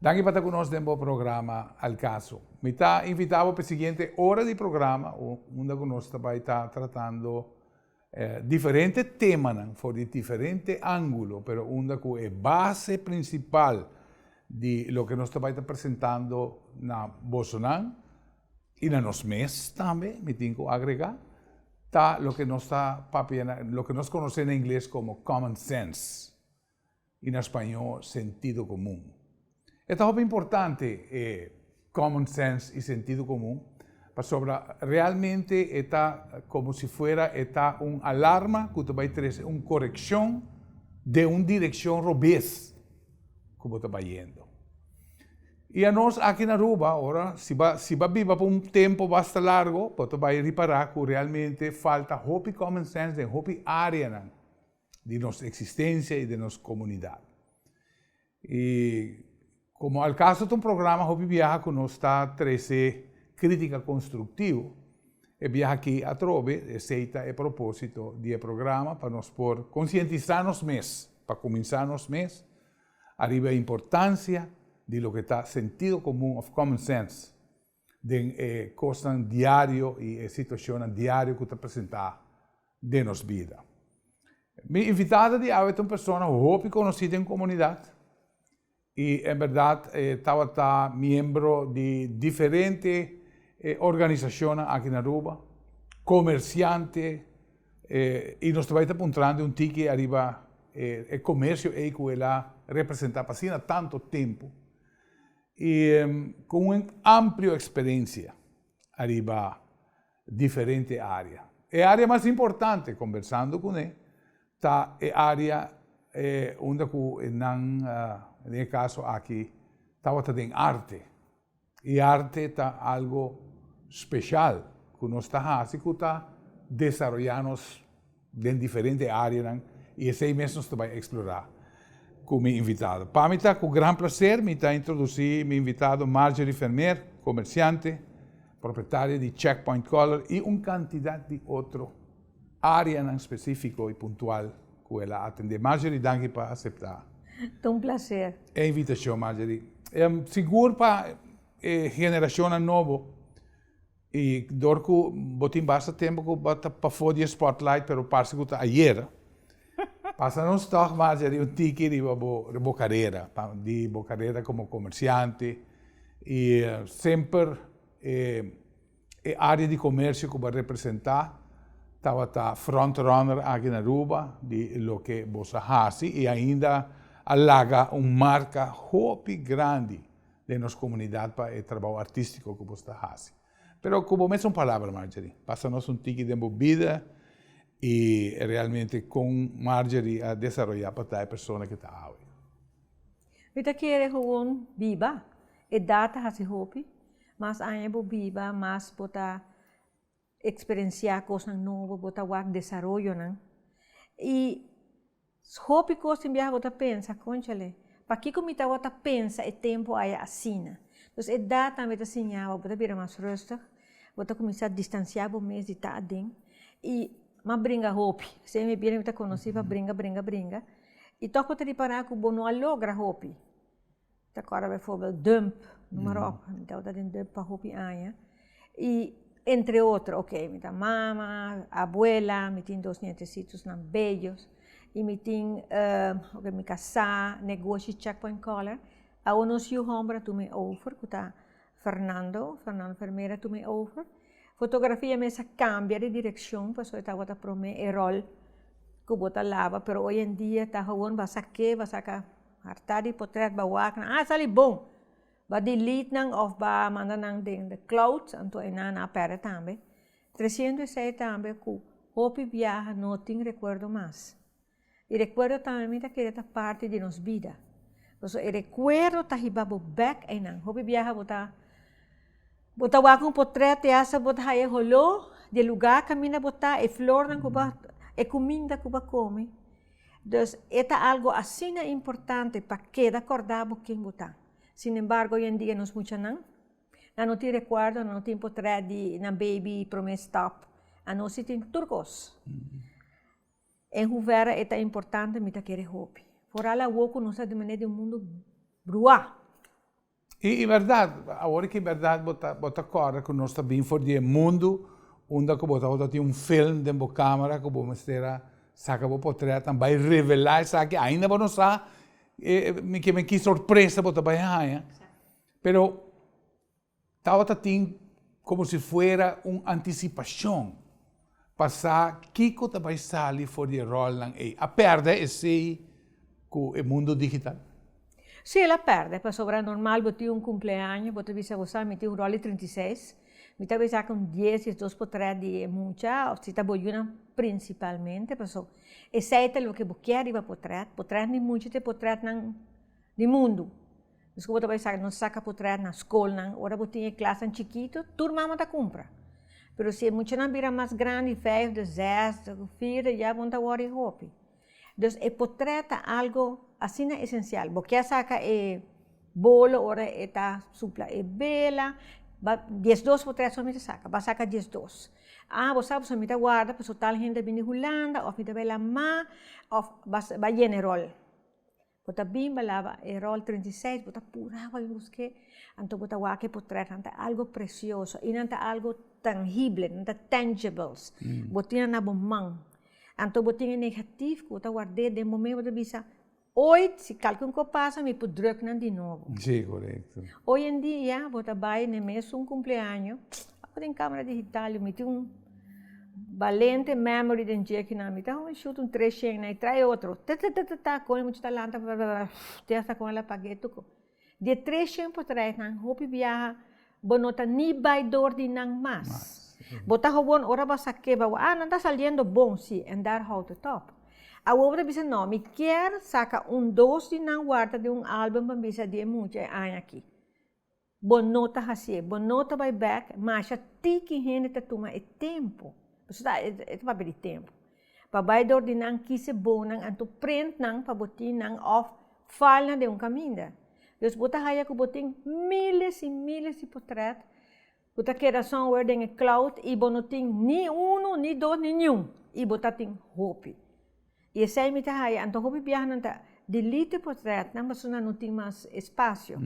Danki pa ta ku nos den bo programa El Caso. Mi ta invitá bo pa e siguiente ora di programa unda ku nos ta bai ta tratando diferente temanan for di diferente ángulo pero unda ku e base prinsipal di loke nos ta bai ta presentando na bosonan i na nos mes tambe mi tin ku agregá ta loke nos ta papia loke nos konosé na ingles komo common sense. I na spañó sentido komun. E ta hopi importante e common sense i sentido komun pasobra realmente e ta komo si fuera e ta un alarma ku ta bai trese un korekshon den un direkshon robes ku bo ta bai yendo. I anos aki na Aruba ora si bo si bo a biba pa un tempu basta largu bo ta bai ripará ku realmente falta hopi common sense den hopi áreanan. di nos eksistensia i den nos komunidat. I komo al kaso ta un programa hopi biaha ku nos ta trese krítika konstruktivo, e biaha aki atrobe e seita e propósito di e programa pa nos por konsientisá nos mes, pa kuminsá nos mes, ariba e importansia di loke ta sentido komun òf common sense. den e kosnan diario i e situashonnan diario ku ta presentá den nos bida. Mi invitá ta di awe ta un persona hopi konosí den komunidat i en bèrdat e tabata miembro di diferente organisashonnan aki na Aruba, komersiante i nos ta bai ta puntranan di un tiki ariba e komersio ei ku el a representá pa asina tantu tempu. y con un amplio experiencia ariba diferente área. E área mas importante, conversando cune, ta e área unda cu nan, den e caso aki, tabata den arte. Y arte ta algo special cu nos ta haci cu ta desaroyá nos. den diferente áreanan i esei mes nos ta bai eksplorá ku mi invitado. Pa mi ta ku gran plaser mi ta introdusí mi invitado Marjorie Vermeer, komersiante, propietaria di Check Point Color i un kantidat di otro áreanan spesífiko i puntual ku el a atendé. Marjorie, danki pa aseptá. Ta un plaser. E invitashon, Marjorie. Sigur pa e generashonnan nobo. I dor ku bo tin basta tempu ku bo ta pafó di e spotlight pero parse ku ta ayer, pasa nos tòg mas yari un tiki riba bo riba bo karera, di bo karera komo komersiante i semper e e área di komersio ku bo a representá tabata front runner aki na Aruba di loke boso a hasi i ainda a laga un marka hopi grandi. den nos comunidad pa e trabao artistico cu bo sta haci. Pero cu bo mes un palabra Marjorie, pasa nos un tiki den bo bida y realmente con Marjorie a desaroya pa ta e persona cu ta awe. Mi ta kere gewoon biba, edad ta haci hopi, mas aña bo biba mas bo ta eksperensiá kosnan nobo, bo ta wak desaroyonan. I hopi kos tin biaha bo ta pensa, Kònchale, pakiko mi tabata ta pensa e tempu aya asina? Entonces edat tambe ta siña bo, bo ta bira mas rùstig, bo ta kuminsá distansiá bo mes di ta aden i más bringa hopi. Esei mi bira mi ta konosí pa bringa, bringa, bringa i tòg bo ta ripará ku bo no a logra hopi. Ta acorda bijvoorbeeld Dump, noem maar op, mi tabata den Dump pa hopi aña, y entre otro, ok, mi ta mama, abuela, mi tin dos nietecitosnan bellos, y mi tin, ok, mi casá, negoshi check point caller, awo nos yu homber a tuma e over, cu ta Fernando, Fernando Vermeer a tuma e over, fotografia mes a cambia di direccion, pasobra e tabata prome e rol cu bo ta laba, pero hoy en dia ta gewoon basa ke, basa ka. Hartá di potret ba wak nan, a sali bon! Ba delete nan of ba manda nan den de cloud, anto einan a perde tambe. Tresientu i sei tambe ku hopi biaha no tin rekuerdo mas. E rekuerdo tambe mi ta kere ta parti di nos bida. Pasobra e rekuerdo ta hiba bo bèk einan. Hopi biaha bo ta bo ta wak un potret te hasta bo ta haña e holó di e lugá kaminda bo ta, e flornan ku bo, e kuminda ku bo a komi. Dus e ta algu asina importante pa keda kòrdá bo ken bo ta. Sin embargo, oyendia nos muchanan nan no tin rekuerdo, nan no tin potret di nan beibi promé stòp, anó si tin tur kos. En huvèra e ta importante? Mi ta kere hopi. Foral awó ku nos ta di manera di un mundu bruá. I i bèrdat, awor ku i bèrdat bo ta bo ta kòrda ku nos ta bin for di e mundu unda ku bo ta wòrdu tin un film den bo kamera ku bo mester a saka bo potrèt an bai revelá esaki ainda bo no sa mi ke men ki sorpresa bo ta bai haña pero tabata tin komo si fuera un antisipashon. pa sa kiko ta bai sali for di e ròlnan ei. A pèrdè esei ku e mundu digital? Sí, el a pèrdè, pasobra normal bo tin un kumpleaño, bo ta bisa bo sa, mi tin un ròl di trinta i seis, mi ta bai sa ku un dies, diesdos por trè di e mucha, òf si ta bo yunan prinsipalmente, paso esei ta loke bo kier riba potrèt, potrètnan di mucha te potrètnan di mundu. Dios ku bo ta bai saka nos saka putrèt na skolnan ora bo tin e klasnan chikitu tur mama ta kumpra pero si e muchanan bira mas grandi vijf de zes de vier de ya bon ta wòri hopi dus e potrèt ta algu asina esensial bo kè saka e bolo ora e ta supla e bela ba dies dos potrèt so mi ta saka ba saka dies dos ah bo sa pasobra mi ta warda pasobra tal hende a bini hulanda of mi ta bai la ma of ba yene ròl. Bo ta bin balaba e rol treinta i seis, bo ta pura wak yos ke, anto bo ta wak e potret, nan ta algo presioso i nan ta algo tangible, nan ta tangibles, bo tin nan na bo man, anto bo tin e negatif ku bo ta ward'é den bo mes, bo ta bisa, oit si kalke un kos pasa mi por drùk nan di nobo. Oyendia bo ta bai na e mes un kumpleaño, abo den kamera digital yo miti un. Balente memory den dje ki nan mi ta homi shoot un tres shen na e trae otro tatatatata kon e mucha ta lanta te hasta kon el a paga e tuko di e tres shen por trae nan hopi biaha bo no ta ni bai dor di nan mas bo ta gewoon ora bo a sa ke bo a wak nan ta saliendo bon si and that how to talk awor bo ta bisa no mi kier saka un dos di nan warda den un album pa bisa di e mucha e aña aki. Bo no ta hasié. Bo no ta bai bèk masha ti ki hende ta tuma e tempu, pasobra ta e ta papia di tempu, pa bai dor di nan kise bonan anto prent nan pa bo tin nan òf fal nan den un kaminda. Dus bo ta haya ku bo tin míles i míles di potrèt ku ta keda somewhere den e cloud i bo no tin ni unu, ni dos, ni niun i bo ta tin hopi. I esei mi ta haya, anto hopi biahanan ta delete e portretnan pasobra nan no tin mas espacio.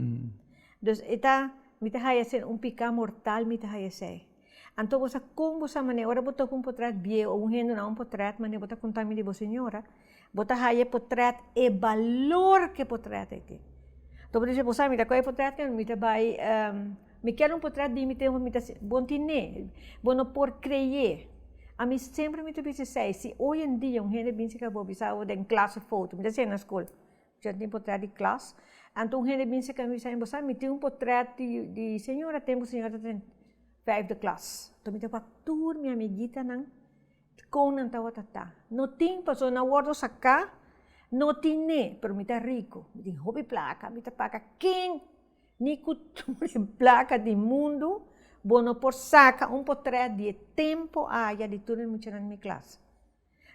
Dus e ta, mi ta haya esei un pica mortal mi ta haya esei. Anto bo sa con bo sa manera, ora bo toca un portret bieu o un hende no a un portret manera bo ta conta mi di bo señora, bo ta haya e portret e balor cu e portret ei tin. Anto bo ta haya esei, bo sa mi ta coge e portret mi ta bay Mi kier un potret di mi te mi ta siña, bon tin ne, bo no por kreyé, a mi semper mi ta bisa esei, si oy en dia un hende binse ka bo bisa bo den klas e foto, mi ta siña na skol, yo tin potret di klas, anto un hende binse ka mi bisa bo sa mi tin un potret di di señora tempo señora ta den vijfde klas, mi ta wak tur mi amigitanan kon nan tabata ta, no tin pasobra nan a wordo saka, no tin ne, pero mi ta riko, mi tin hopi plaka, mi ta paka kin. Ni ku tur e plaka di mundu bo no por saka un potrèt di e tempu aya di tur e muchanan di mi klas.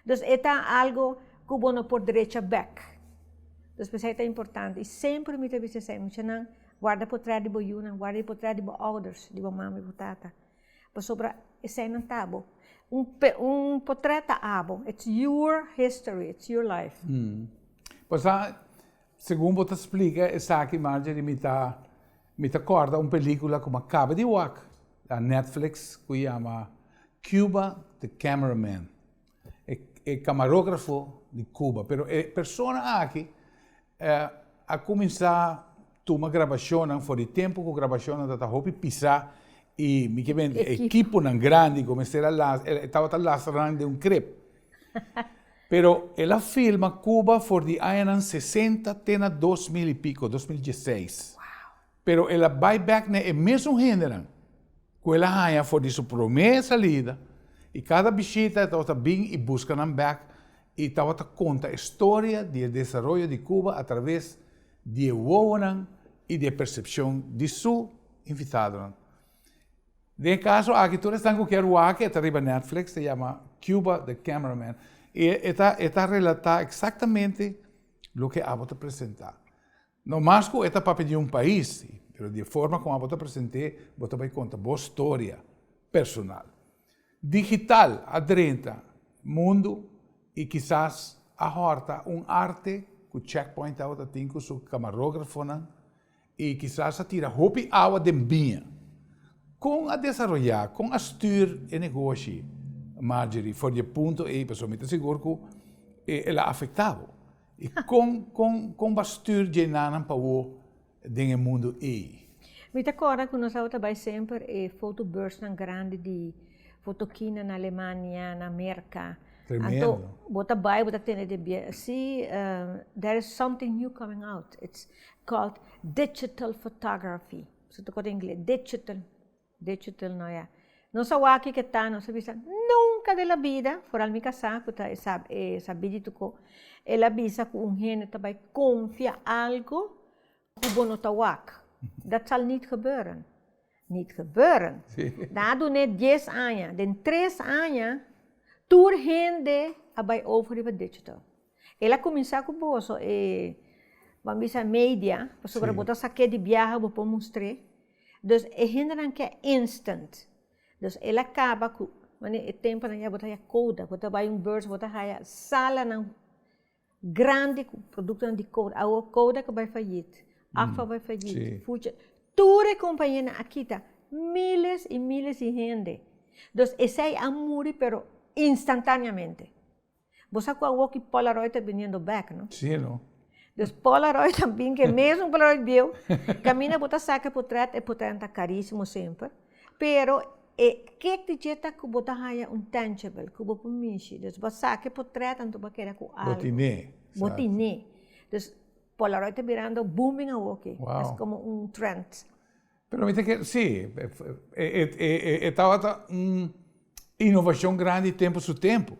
Dus e ta algu ku bo no por drecha bèk. Dus p'esei ta importante, i semper mi ta bis'e esei, Muchanan, guarda potrèt di bo yunan, guarda e potrèt di bo ouders, di bo mama i bo tata. Pasobra eseinan ta bo. Un un potrèt ta abo, it's your history, it's your life. Pasá, Segun bo ta splica esaki Marjorie mi ta mi ta corda un pelicula cu mi a caba di wak na Netflix cu yama Cuba the camera man e e camarografo di Cuba pero e persona aki a cuminsa tuma grabacionnan for di tempo cu grabacionnan ta ta hopi pisa y mi ke bende ekiponan grandi cu mester a lasa e tabata lastranan den un krep Pero el a filma Cuba for di añanan sesenta te na dos mil y pico, dos mil dieseis. Pero el a bai bek na e mesun hendenan cu el a haña for di su promé salida y cada bishita el tabata bin y busca nan bek y tabata conta e storia di e desaroyo di Cuba a traves di e wowonan y di e percepcion di su invitadonan. Den e kaso aki tur esnan ku kier wak e ta riba Netflix ta yama Cuba the Camera Man i e ta e ta relatá eksaktamente loke abo ta presentá. No mas ku e ta papia di un pais si, pero di e forma kon abo ta present'é bo ta bai konta bo storia personal. Digital a drenta mundu i kisas a hòrta un arte ku Checkpoint tabata tin ku su kamarógrafonan I kisas a tira hopi awa den biña. Kon a desaroyá, kon a stür e negoshi, Marjorie, for di e punto ei pasobra mi ta sigur ku el a afektá bo? I kon, kon, kon bo a stür dje nanan pa bo den e mundu ei? Mi ta kòrda ku nos tabata bai semper e fotobeursnan grandi di fotokinan na Alemania, na Merka. Tremendo. Anto bo ta bai, bo ta tende den biaha, sí, there is something new coming out. It's called digital photography su ta koto ingles digital digital no ya nos a wak ke ta nos a bisa nunka den la bida foral mi kasa ku ta e sab e sabi di tuko el a bisa ku un hende ta bai konfia algu ku bo no ta wak dat sal nit gebeuren nit gebeuren na a dun'é dies aña den tres aña tur hende a bai over riba digital. El a kuminsá ku boso e ban bisa media, pasobra bo ta sa ke di biaha bo por mustr'é. Dus e hendenan ke instant. Dus el a kaba ku wòrdu e tempunan ya bo ta haya kouda, bo ta bai un beurs bo ta haya salanan grandi ku produktonan di kouda. Awo kouda ke bai fayit, agfa bai fayit, fuchi, tur e kompañenan a kita míles i míles di hende. Dus esei a muri pero instantáneamente. Bo sa ku a woki polaroid ta biniendo bek no. Si no. Pues polaroid a bin ke mesmo polaroid bieu kaminda bo ta saka e potret e potret ta karisimo semper pero e ke di dje ta ku bo ta haya un tangible ku bo por mishi pues bo a saka e potret anto bo a keda ku algu. Bo tine. Bo tine pues polaroid ta birando booming awoki es komo un trend. Pero mi ta kere, sí, e tabata un innovacion grandi tempu su tempu.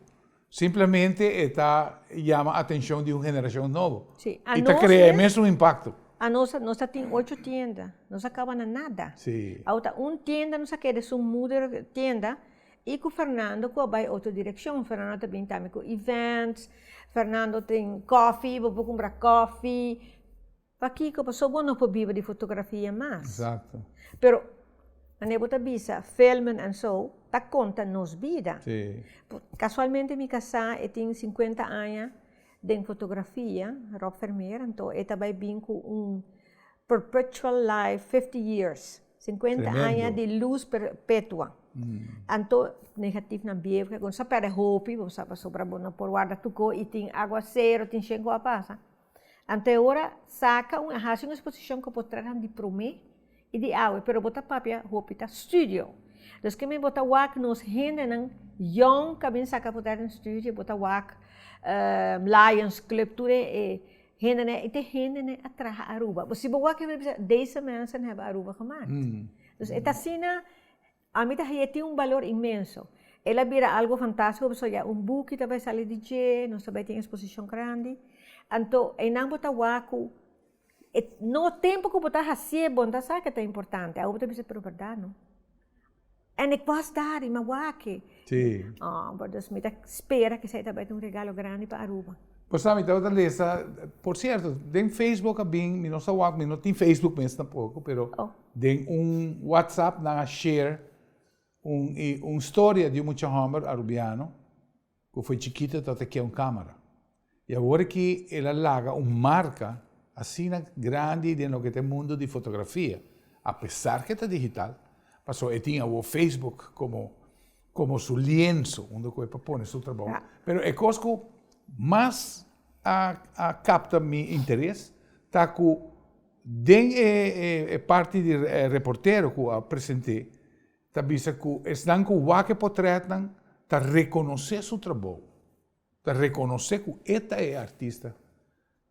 Simplemente e ta yama atencion di un generacion nobo. Sí, a nos mes. I ta crea e mesun impacto. A nos, nos ta tin ocho tienda, nos a caba na nada. Sí. Awe ta un tienda nos a ke den su moeder tienda, i cu Fernando cu a bay otro direccion. Fernando ta bini tambe cu events, Fernando tin coffee, bo por cumbra coffee. Pakiko? Paso bo no por biba di fotografia mas. Exacto. Pero manera bo ta bisa filmen and so ta conta nos bida. Si. Casualmente mi casa e tin cincuenta aña den fotografia, Rob Vermeer, anto e ta bay bin cu un perpetual life fifty years, cincuenta aña di luz perpetua. Anto negatif nan biebra con sa perde hopi, bo sa pasobra bo no por warda tuco y tin agua cero, tin shen cu a pasa. Anteora saca un a haci un exposición cu bo traha di prome y di awe pero bo ta papia hopi ta studio dus kimin bo ta wak nos hendenan yong ca bin saca poder den studio bo ta wak lions club tur e hendenan y tin hendenan a traha aruba bo si bo wak e bisa deze mensen hebben aruba gemaakt dus e ta asina. Ami ta haña e tin un balor inmenso. El a bira algu fantástiko pasobra ya un buki ta bai sali di dje, nos ta bai tin eksposishon grandi. Anto einan bo ta wak ku e no tempu ku bo ta hasié bon ta sa ke ta importante. Awo bo ta bisa, pero bèrdat no? And ik wòs dar, i ma wak-e. Sí. Ò, bòt dus mi ta spera kisá e ta bai tin un regalo grandi pa Aruba. Bo sa, mi tabata lesa, por sierto, den Facebook a bin, mi no sa wak, mi no tin Facebook mes tampoco, pero. Den un WhatsApp nan a share un i un storia di un mucha homber Arubiano cu fo'i chikito ta ta kia un camera. I awor aki el a laga un marca asina grandi den loke ta e mundo di fotografia, apesar cu e ta digital, paso e tin awor Facebook como como su lienzo unda cu e por pone su trabou. Pero e cos cu mas a a capta mi interes ta cu. Den e parti di reportero ku a present'é ta bisa ku esnan ku wak e potrètnan ta rekonosé su trabou, ta rekonosé ku e ta e artista.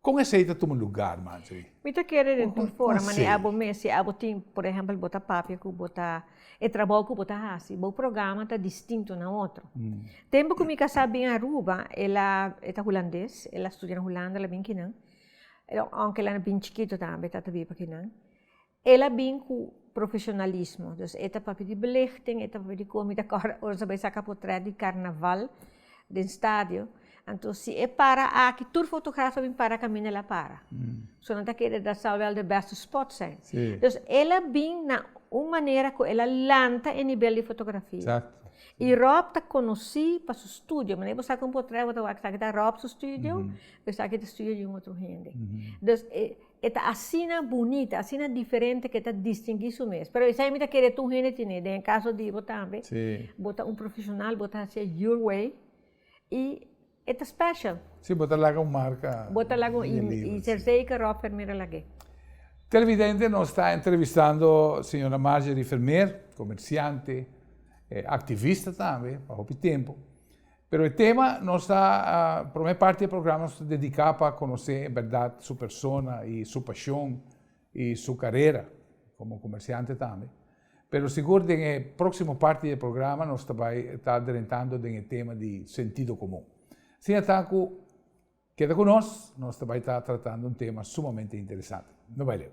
Kon esei ta tuma lugar manchi ei? Mi ta kere den tur fora manera abo mes, si abo tin, por ehèmpel bo ta papia ku bo ta, e trabou ku bo ta hasi, bo programa ta distinto na otro. Tempu ku mi kasá bin Aruba, el a, e ta hulandes, el a studia na Hulanda, el a bin kinan, Aunke la na bin chikito tambe ta ta bin pa kinan el a bin ku profesionalismo dus e ta papia di belichting e ta papia di komi ta kòrda ora ta bai saka potrèt di karnaval den stadio anto si e para aki tur fotograf ta bin para kaminda el a para so nan ta keda dat sal wèl de bèste spòt sen dus el a bin na un manera ku el a lanta e nibel di fotografia i Rob ta konosí pa su studio manera bo sa ku un potrèt bo ta wak sa ki ta Rob su studio. Esaki ta studia di un otro hende. Dus, e ta asina bunita, asina diferente ku e ta distingui su mes. Pero esei mi ta kere tur hende tene. Den e kaso di bo tambe, bo ta un profeshonal, bo ta hasié your way, i e ta special. Si, bo ta laga un marka na e libro. Bo ta laga un, i ser zeker Rob Vermeer a lag'é. Televidente, nos ta entrevistando señora Marjorie Vermeer, comerciante, e activista tambe pa hopi tempo. Pero e tema nos ta, prome parti e programa nos ta dedica pa conoce en berdad su persona y su pasion y su carera como comerciante tambe. Pero sigur den e proximo parti di e programa nos ta bay ta adrentando den e tema di sentido comun. Siña ta cu keda cu nos, nos ta bay ta tratando un tema sumamente interesante. No bay leu.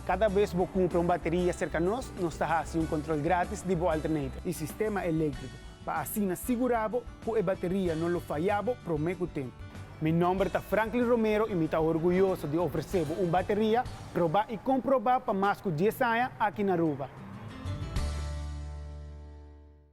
Kada bes bo kumpra un bateria serka nos, nos ta hasi un kontrol grátis di bo alternator i sistema eléktriko pa asina sigurá bo ku e bateria no lo fayá bo promé ku tempu. Mi nòmber ta Franklin Romero i mi ta orguyoso di ofresé bo un bateria probá i komprobá pa mas ku dies aña aki na Aruba.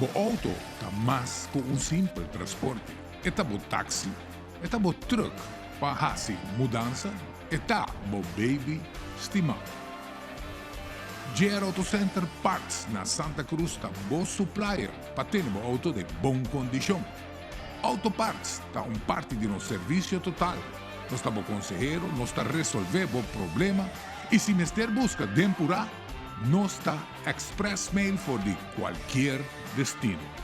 Bo outo ta mas ku un simpel transporte. E ta bo taksi, e ta bo trùk pa hasi mudansa, e ta bo beibi stimá. JR Auto Center Parts na Santa Cruz ta bo suplaier pa tene bo outo den bon kondishon. Auto parts ta un parti di nos servisio total. Nos ta bo konsehero, nos ta resolvé bo problema i si mester buska den purá. Nos ta express mail for di cualkier destino.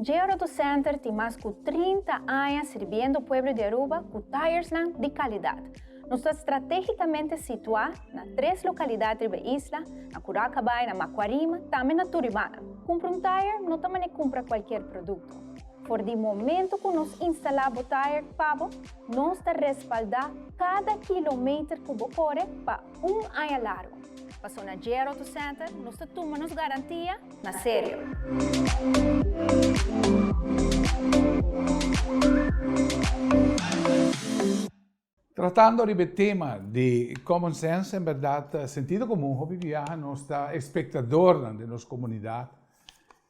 Georoto Center tin mas cu trinta aña sirbiendo pueblo di Aruba cu tyresnan di calidad. Nos ta stratégikamente situá na tres lokalidat riba e isla, na Curaca Bay, na Macuarima, tambe na Turibana. Kumpra un tire no ta manera kumpra kualker produkto. For di momentu ku nos instalá bo tire pa bo, nos ta respaldá kada kilometer ku bo kore pa un aña largu. Pa Sonagero Auto Center, nos ta tuma nos garantia na serio. Tratando riba e tema di common sense, en berdad sentido comun hopi biaha nos ta espectadornan den nos comunidad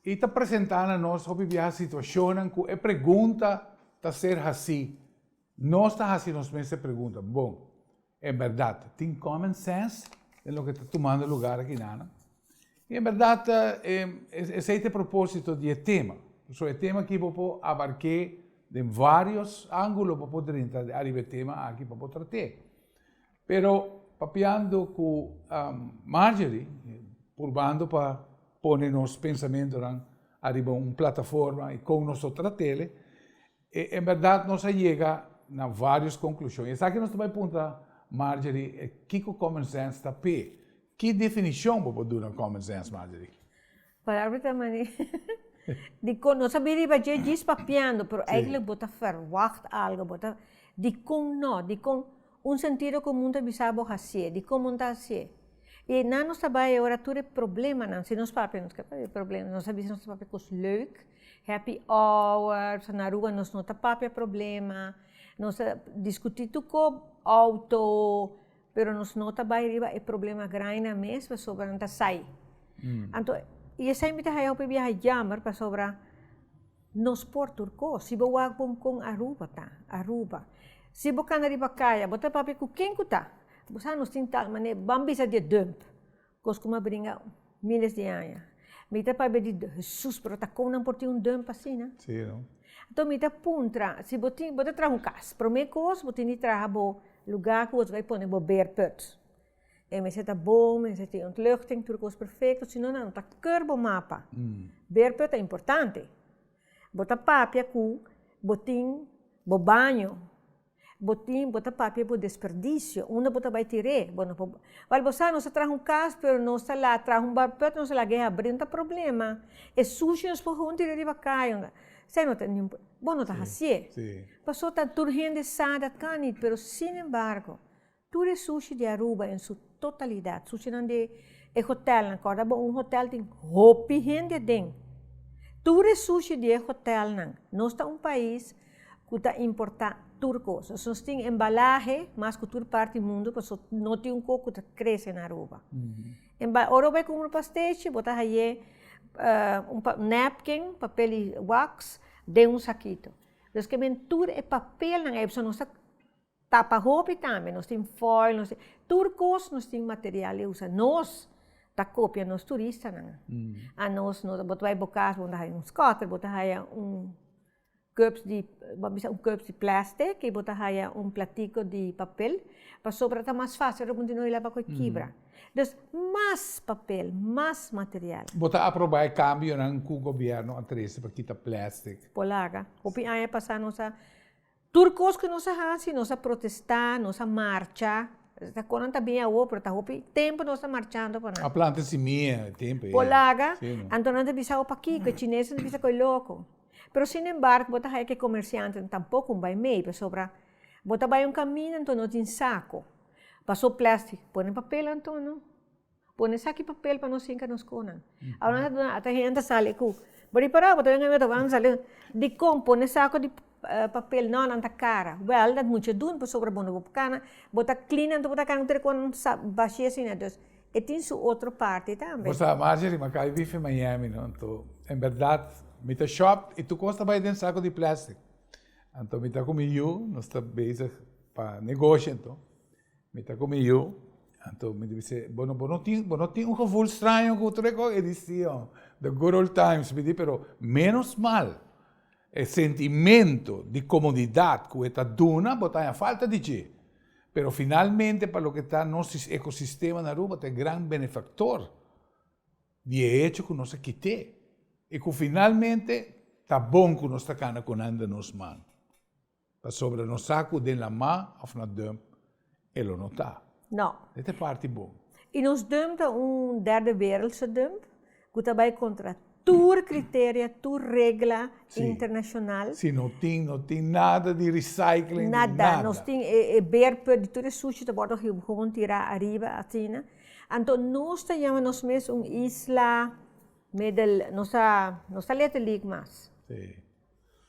y ta presenta na nos hopi biaha situacionnan cu e pregunta ta ser haci, nos ta haci nos mes e pregunta, Bo, en berdad tin common sense den loke ta tumando lugar aki nana? I en bèrdat, esei ta e propósito di e tema. Pasobra e tema aki bo por abarké den vários ángulo, bo por drenta ariba e tema aki pa bo trat'é. Pero papiando ku Marjorie, purbando pa pone nos pensamentunan ariba un plataforma i kon nos ta trat'é, E en berdad nos a yega na varios conclusion. Y esaki nos ta bay punta, Marjorie, kico common sense ta p'e? Ki definicion bo por duna common sense, Marjorie? Palabra ta mani di con nos a bin riba dje djis papiando, pero eigenlijk bo ta verwacht algo, bo ta, dikon no? Dikon. Un sentido komun ta bisa bo hasié, di komo N ta hasié. I einan nos ta bai e ora tur e problemanan, si nos papia nos keda papia problema, nos a bisa nos ta papia kos leuk, happy hour, na Aruba nos no ta papia problema, nos ta diskutí tur ko outo, pero nos no ta bai riba e problema grainan mes pasobra nan ta sai. Anto i esei mi ta haya hopi biaha yammer pasobra. Nos por tur ko. Si bo wak bon kon Aruba ta, Aruba. Si bo kana riba kaya, bo ta papia ku ken ku ta. Bo sa nos tin tal mane, ban bisa di e dump, kos ku a bringa miles di aña. Mi ta papia di Hesus, pero ta kon nan por tin un dump asina? Si no. Anto mi ta puntra, si bo tin, bo ta traha un kas, promé kos bo tin di traha bo luga ku bo ta bai pone bo bare put. E mester ta bon, mester tin ontluchting, tur kos perfecto, si no nan ta keur bo mapa. Berpio ta importante. Bo ta papia cu bo tin bo baño, bo tin, bo ta papia bo desperdicio, unda bo ta bay tir'é. Bo no por, wal bo sa, nos a traha un cas, pero nos ta laat traha un barpio, nos a laat gueha abri, no ta problema. E sushi nos por hunti ri riba cay, unda sea, no ta nin pro, bo no ta haci'é. Pasobra tur hende sa dat kan niet, pero sin embargo. Tur e sushi di Aruba en su totalidat, sushinan di e hotelnan, kòrda bo un hotel tin hopi hende aden, tur e sushi di e hotelnan, nos ta un pais ku ta importá tur kos, so nos tin embalahe mas ku tur parti mundu paso no tin un kos ku ta krese na Aruba. Ora bo bai kumpra un pastechi bo ta haié un napkin, papel di wax, den un sakito, deskemen tur e papelnan ei paso nos ta. Ta pa hopi tambe, nos tin foil, nos tin, tur kos nos tin material di usa. Nos ta kopia nos turistanan. A nos, nos, bo ta bai bo kas, bo manda haya un scooter, bo ta haya un cups di, bo a bisa un cups di plastic i bo ta haya un platiko di papel, pasobra ta mas fásil ora bo continua hil'é abaku e kibra. Dus, mas papel, mas material. Bo ta aprobá e kambionan ku Gobièrnu a trese pa kita plastic? Bo laga. Hopi aña pasá nos a. Tur kos ku nos a hasi, nos a protestá, nos a marcha, ta kon nan ta bin awo, pero ta hopi tempu nos ta marchando pa nan. A planta simia e tempu ei. Bo laga, anto nan ta bisa, opakiko, e chinesnan ta bisa ku e loko. Pero sin embargo, bo ta haña ku e komersiantenan tampoco un bai mee, pasobra bo ta bai un kaminda anto no tin sako, pasó plèstik, pone papel anto no. Pone esaki papel pa nos hinca nos conan. Ahora nos ta hasta hende sali cu, bo ripará awe ta wende bo a sali dicon pone saco di papel no nan ta cara wel dat mucha doen pasobra bo no bo cana bo ta clean anto bo ta cana ter con sa bashi asina dus e tin su otro parti tambe. Bo sa Margery ma kai bifi Miami no anto en berdad mi ta shop y tur cos ta bay den saco di plastic anto mi ta cu mi yu nos ta bezig pa negoshi anto Mi ta ku mi yu, anto mi di bis'é, Bo no, bo no tin, bo no tin un gevoel straño ku tur e kos? E di, Si, hombre, the good old times, mi di, pero ménos mal e sentimento di komodidat ku e ta duna bo ta haña falta di dje, pero finalmente pa loke ta nos ekosistema na Aruba ta e gran benefaktor di e hecho ku nos a kit'é i ku finalmente ta bon ku nos ta kana konanda nos man. Pasobra nos sa cu den lamá of na dum e lo no ta. No. E ta e parti bon. I nos dum ta un derde wereldse dum cu ta bay contra tur criteria, tur regla internacional. Si. Si no tin, no tin nada di recycling di nada. Nada. Nos tin e, e berpe di tur e sushi ta wordo gewoon tira ariba asina. Anto nos ta yama nos mes un isla middel, nos ta, nos ta letterlijk mas. Si.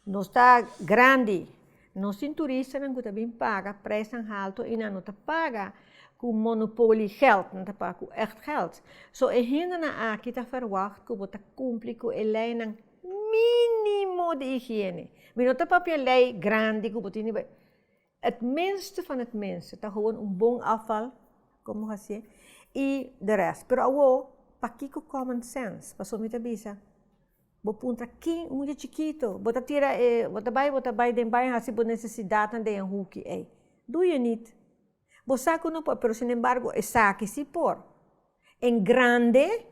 Nos ta grandi, nos tin turistanan ku ta bin paga prijsnan haltu i nan no ta paga ku monopoliegeld, nan ta paga ku ècht gèld. So e hendenan aki ta ferwagt ku bo ta kumpli ku e leinan mínimo di higiene. Mi no ta papia lei grandi ku bo tin di bai. Het minste van het minste ta gewoon un bon afval como hacié y de rest pero awo pakico common sense paso mi ta bisa bo puntra kin un mucha chikito bo ta tira e bo ta bay bo ta bay den bay haci bo necesidadnan den e hoekie ey do je niet bo sa cu no por pero sin embargo esaki si por en grande.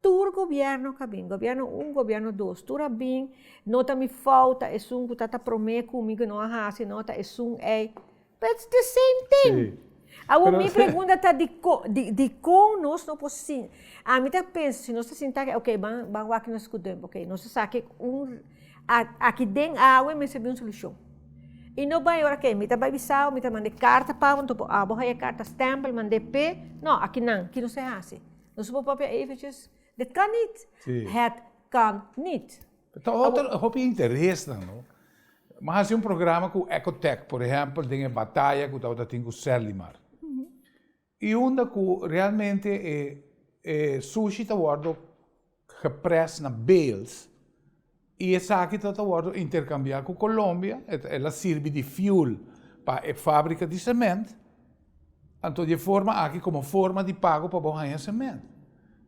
Tur gobierno ka bin, gobierno un, gobierno dos, tur a bin, no ta mi fout, ta esun ku ta ta prome ku mi ku no a hasi, no ta esun ei, but it's the same thing. Sí. Awor mi pregunta ta dikon, dikon nos no por sin, ami ta pensa si nos ta sinta aki, ok ban ban wak nos esku tempo, ok nos ta sa ke un aki den awe mester bin un solushon. I no bai ora ke mi ta bai bisa awe, mi ta manda e karta pa awe, mi ta pon abo hai e karta stempel, mand'é p'é, no aki nan, ki nos e hasi? Nos por papia eventjes de kan niet, het kan niet. Ta otro e hopi interesnan no. Mi hasi un programa ku Ecotec, por ehèmpel den e bataya ku tabata tin ku Serlimar. I unda ku realmente e sushi ta wòrdu. gepres na bales y esaki ta ta wordo intercambia cu Colombia, el a sirbi di fuel pa e fabrica di cement, anto di e forma aki como forma di pago pa bo haya cement.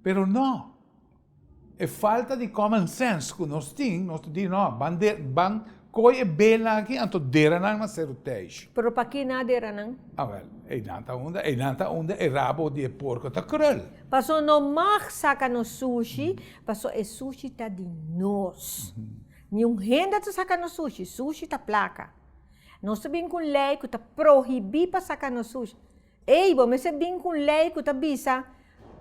Pero no, e falta di common sense cu nos tin, nos ta di no, ban de, ban. Koe e bela aki anto deranan na seru teish. Pero paki na deranan? A wel, einan ta unda, einan ta unda e rabo di e porko ta krul. Paso no mag saka no sushi, paso e sushi ta di nos. Ni un hende ta saka no sushi, sushi ta plaka. Nos ta bin ku un lei ku ta prohibi pa saka no sushi. Ey, bo mester bin cu un ley cu ta bisa,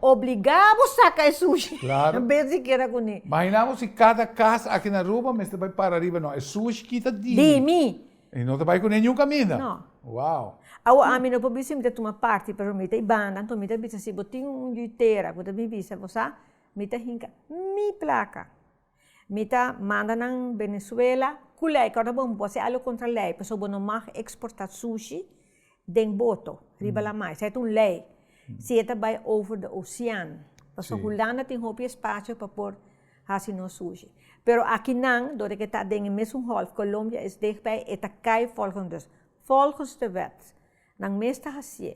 obliga bo saca e sushi. Claro. Bes di keda cu ni. Mahina bo si cada cas aki na Aruba mester bay para riba, no, e sushi kita di mi. Di mi. Y no ta bay cu ne niun caminda. No. Wow. Awo ami no por bisa mi ta tuma parti, pero mi ta y banda, anto mi ta bisa si bo tin un yuitera cu ta bin bisa, bo sa, mi ta hinca mi placa. Mi ta manda nan Venezuela ku lei kòrd'a bo bo hasi algu kontra lei pasobra bo no mag eksportá sushi den boto riba lamai esei ta un lei si e ta bai over de osean pasobra Hulanda tin hopi espacio pa por hasi nos sushi pero akinan dor di ke ta den e mesun golf Colombia es dichtbij e ta kai volgens dus volgens de wet nan mes ta hasié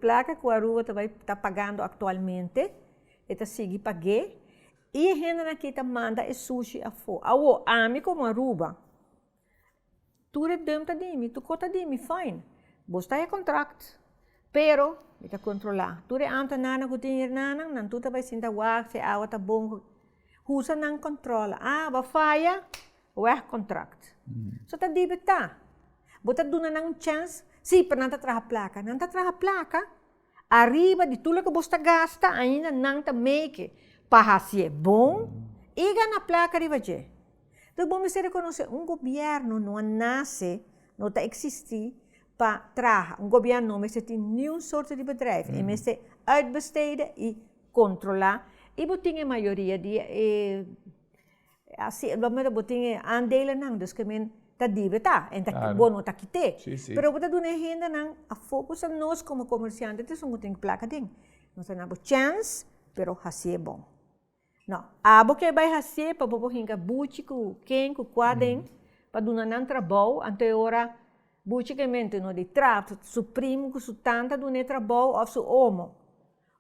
plaka ku Aruba ta bai ta pagando aktualmente e ta sigui pag'é. I e hendenan aki ta manda e sushi afó. Awor, ami komo Aruba, tur e dùm ta di mi, tur kos ta di mi, fain, bo sta e kontrakt, pero mi ta kontrolá. Tur e antenanan ku tin hiernanan, nan tur ta bai sinta wak si e awa ta bon. Husa nan kontrola. A bo a faya, wèk kontrakt. So ta dibi ta. Bo ta duna nan un chèns? Sí, pero nan ta traha plaka. Nan ta traha plaka? Ariba di tur loke bo sta gasta, ainda nan ta meke pa hasié bon i gana plaka riba dje. Tok bo mester rekonosé, un gobièrnu no a nase, no ta eksistí pa traha. Un gobièrnu no mester tin niun sorto di bedrijf, e mester uitbestede i kontrolá i bo tin e mayoria di e. E asi e gomen bo tin e aandelenan dus ke men ta dibe ta en ta kite bo no ta kite pero bo ta duna e hendenan afo kosa nos komo komersiante ta esun bo tin plak aden nos ta na bo chèns pero hasi e bon nau abo ke bai hasié pa bo por hinka buchi ku ken ku kua aden pa duna nan trabou anto e ora buchi ke mente no di trap su prim ku su tan ta duna e trabou òf su omo.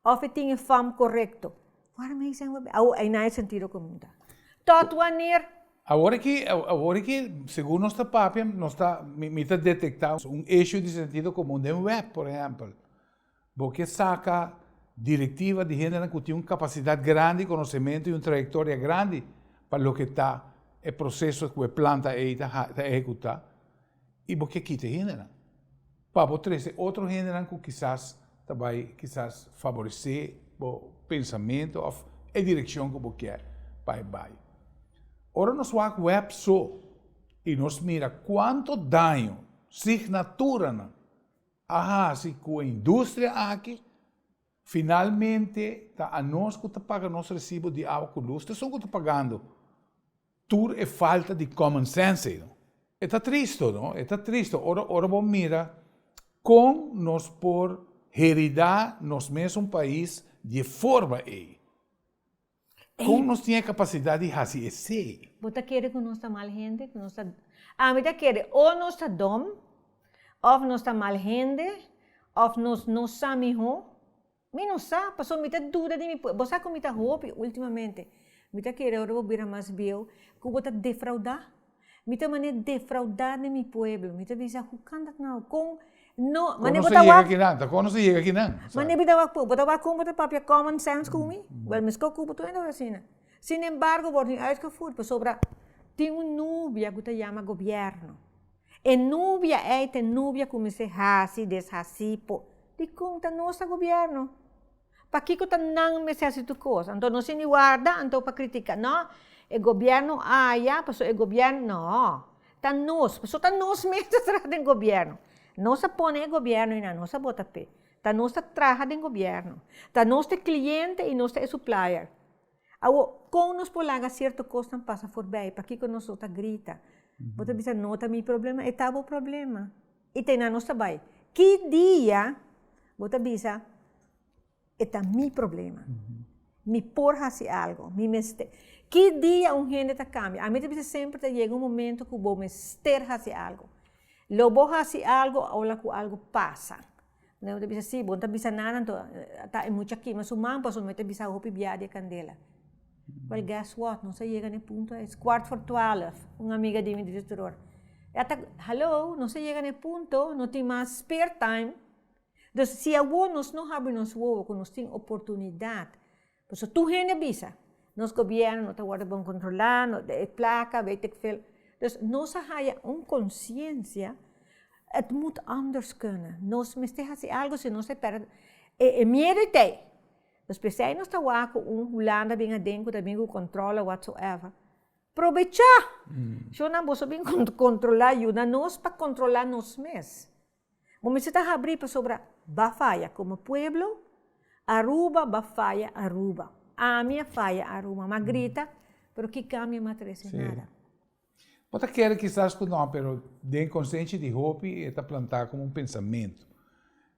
Of e tin e fòm korekto. Waarom hij zijn we bij? Awor, ei na e sentido ku mi ta. Tòt wanneer? Awor ki, awor ki segun nos ta papia, nos ta, mi, mi ta detektá un issue di sentido komun den wèp, por ehèmpel. Bo ke saka direktiva di hendenan ku tin un kapasidat grandi, konosementu i un trayektoria grandi pa loke ta e proseso ku e planta ei ta, ta ehekutá. y bo ke kita e hendenan pa bo trese otro hendenan cu kisas ta bay kisas faborece bo pensamentu of e direccion cu bo kier pa e bay. Ora nos wak web so y nos mira cuanto daño signaturanan a haci cu e industria aki, finalmente ta anos cu ta paga nos recibo di awa cu luz, ta asun cu ta pagando. Tur e falta di common sense ey no. E ta tristo no, e ta tristo ora ora bo mira con nos por herida nos mes un pais di e forma ey. Con nos tin e capacidad di haci esey? Bo ta kere cu nos ta mal hende? Cu nos ta, a mi ta kere o nos ta dom, of nos ta mal hende, of nos no sa miho. Mi no sa, pasobra mi ta duda di mi pueblo. Bo sa ku mi ta hopi ultimamente? Mi ta kere ora bo bira mas bieu ku bo ta defraudá. Mi ta mane defraudá den mi pueblo. Mi ta bisa, Hukán dat nau? Kon no, mane bo ta wak? Kon no ta yega kinan? Ta kon no ta yega kinan? Mane bo ta wak poi? Bo ta wak kon bo ta papia common sense ku mi? Bèl mi skok ku bo tambe ta wak asina. Sin embargo, bo wòrdu uitgevoerd pasobra tin un nubia ku ta yama gobierno. E nubia ei ta e nubia ku mester hasi i deshasí por dikon ta nos ta gobièrnu? Pakiko ta nan mester hasi tur kos? Anto no siñi warda anto pa kritiká, no, e gobièrnu aya pasobra e gobièrnu. No, ta nos, pasobra ta nos mes ta traha den gobièrnu. Nos a pone e gobièrnu ei na nos a bota p'e. Ta nos ta traha den gobièrnu. Ta nos ta e kliente i nos ta e suplayer. Awor, kon nos por laga sierto kosnan pasa forbei? Pakiko nos lo ta grita? Bo ta bisa, no ta mi problema? E ta bo problema. I ta einan nos ta bai. Ki dia bo ta bisa, e ta mi problema? Mi por hasi algu? Mi mester. Ki dia un hende ta kambia? Ami ta bisa semper ta yega un momento ku bo mester hasi algu. Lo bo hasi algu, a ola ku algu pasa. Nan ta bisa, sí, bo no ta bisa nada anto, ta e mucha a kima su man pasobra mi mester a bisa hopi biaha di e kandela. Well, guess what, nos a yega na e punto ei, es kwart for twaalf, un amiga di mi di Teteroor, e a ta, hallo, nos a yega na e punto, no tin mas spare time, dus si awor nos no habri nos wowo ku nos tin oportunidat Por eso tur hende a bisa, nos gobierno no ta worde bon controla, no de e placa, weetikveel. Dus nos a haya un conciencia, et moet anders kunnen, nos mester haci algo si no se perde, e e miedo e t'ei. Dus pesey nos ta wak cu un hulanda bin aden cu ta bin cu controla whatsoever, probecha! Sho nan boso bin con controla, yuda nos pa controla nos mes. Bo mester ta habrí pasobra b'a faya komo pueblo, Aruba b'a faya Aruba. Ami a faya Aruba, m'a grita, pero ki kambio m'a trese? Nada. Bo ta kere kisas ku nò, pero den konsenshi di hopi e ta plantá komo un pensamentu.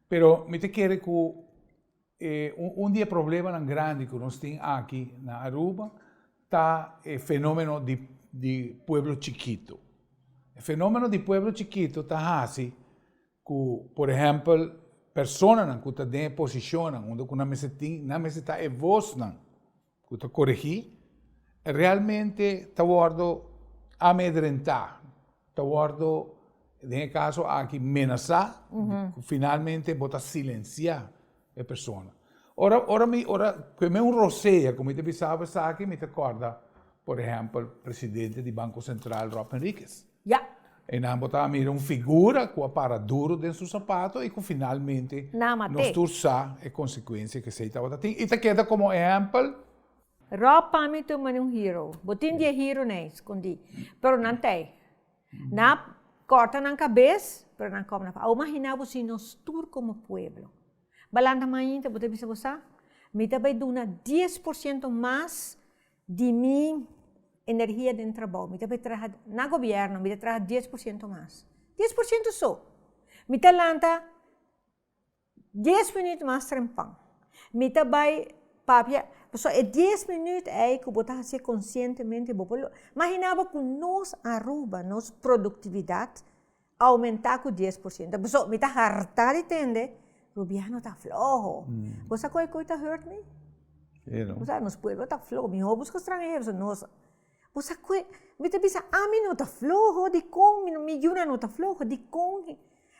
Pero mi ta kere ku. E un di e problemanan grandi ku nos tin aki na Aruba ta e fenomeno di di pueblo chikitu, e fenomeno di pueblo chikitu ta hasi ku por ehèmpel personanan ku ta den e posishonnan unda ku nan mester tin nan mester ta e vosnan. ku ta korigí, e realmente ta wòrdu amedrentá, ta wòrdu den e kaso aki menasá, ku finalmente bo ta silensiá e persona. Ora, ora mi, ora promé un rosea ku mi ta bisa esaki, mi ta kòrda, por ehèmpel, presidente di Banko Sentral Rob Henriquez. Ya. Einan bo ta a mira un figura ku a para duru den su sapato i ku finalmente nos tur sa e konsekuensia ku esei tabata tin i ta keda komo ehèmpel. Rob pa mi tur mane un hero. Bo tin dies hero n'ei skondí, pero nan ta ei. Nan a kòrta nan kabes, pero nan kòp nan fas. Awor maginá bo si nos tur komo pueblo balanta mainta bo ta bisa bo sa? Mi ta bai duna dies por siento mas Di mi energia den trabou, mi ta bai traha na gobierno, mi ta traha dies por ciento mas, dies por ciento so! Mi ta lanta dies minuut mas trempan, mi ta bai papia, pasobra e dies minuut ei ku bo ta hasi konshientemente, bo por lo, imaginá bo ku nos Aruba, nos produktividat Aumentá ku dies por siento. Pasobra mi ta hartá di tende Rubiano ta floho. Bo sa koe koe ta hurt mi? Sí, no. Bo sa, nos pueblo ta floho. Mihó buska stranhero pasobra nos. Bo sa koe, mi ta bisa, ami no ta floho. Dikon mi no, mi yuna no ta floho? Dikon?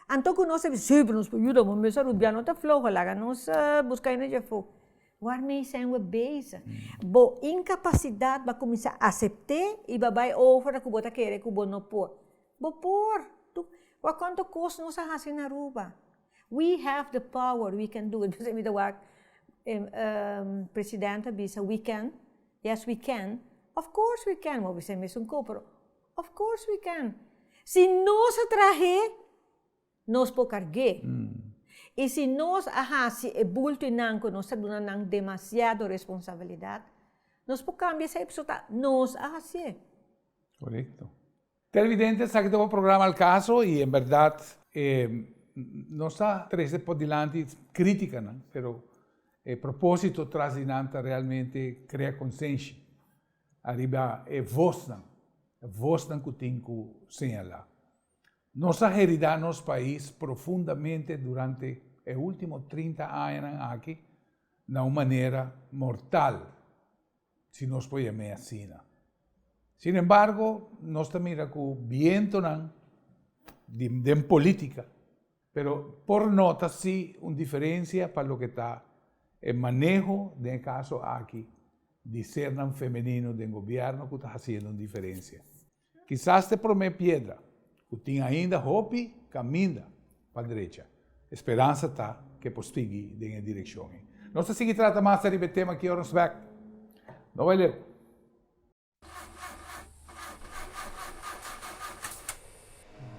Anto ku nos ta bisa, sí, pero nos por yuda bo mester. Rubiano ta floho, laga nos busk'é na djefó. Wàrmee sen we bezig? Bo inkapasidat bo a kuminsá asept'é i bo a bai ofra ku bo ta kere ku bo no por. Bo por! Tu wak konto kos nos a hasi na Aruba. We have the power, we can do it. Besey mi ta wak president a bisa we can, yes we can, of course we can, bo a bisa esun ko pero of course we can. Si nos a trah'é, nos por karg'é. I si nos a hasi e bulto i nan ku nos ta duna nan demasiado responsabilidat, nos por kambia esei, pasobra ta nos a hasié. Korekto. Televidente esaki ta bo programa El Caso y en berdad nos ta trece por dilanti criticanan pero e proposito tras di nan ta realmente crea consenshi ariba e voznan, voznan cu tin cu señala. Nos a herida nos pais profundamente durante e ultimo trinta añanan aki na un manera mortal. Si nos por yam'é asina. Sin embargo, nos ta mira ku bientonan di den polítika, pero por nota si un diferensia pa loke ta e maneho den e kaso aki di sernan femenino den gobièrnu ku ta hasiendo un diferensia. Kisas t'e promé piedra, ku tin ainda hopi kaminda pa drecha, e speransa ta ku e por sigui den e direkshon ei. Nos ta sigui trata mas ariba e tema aki ora nos bèk. No bai leu.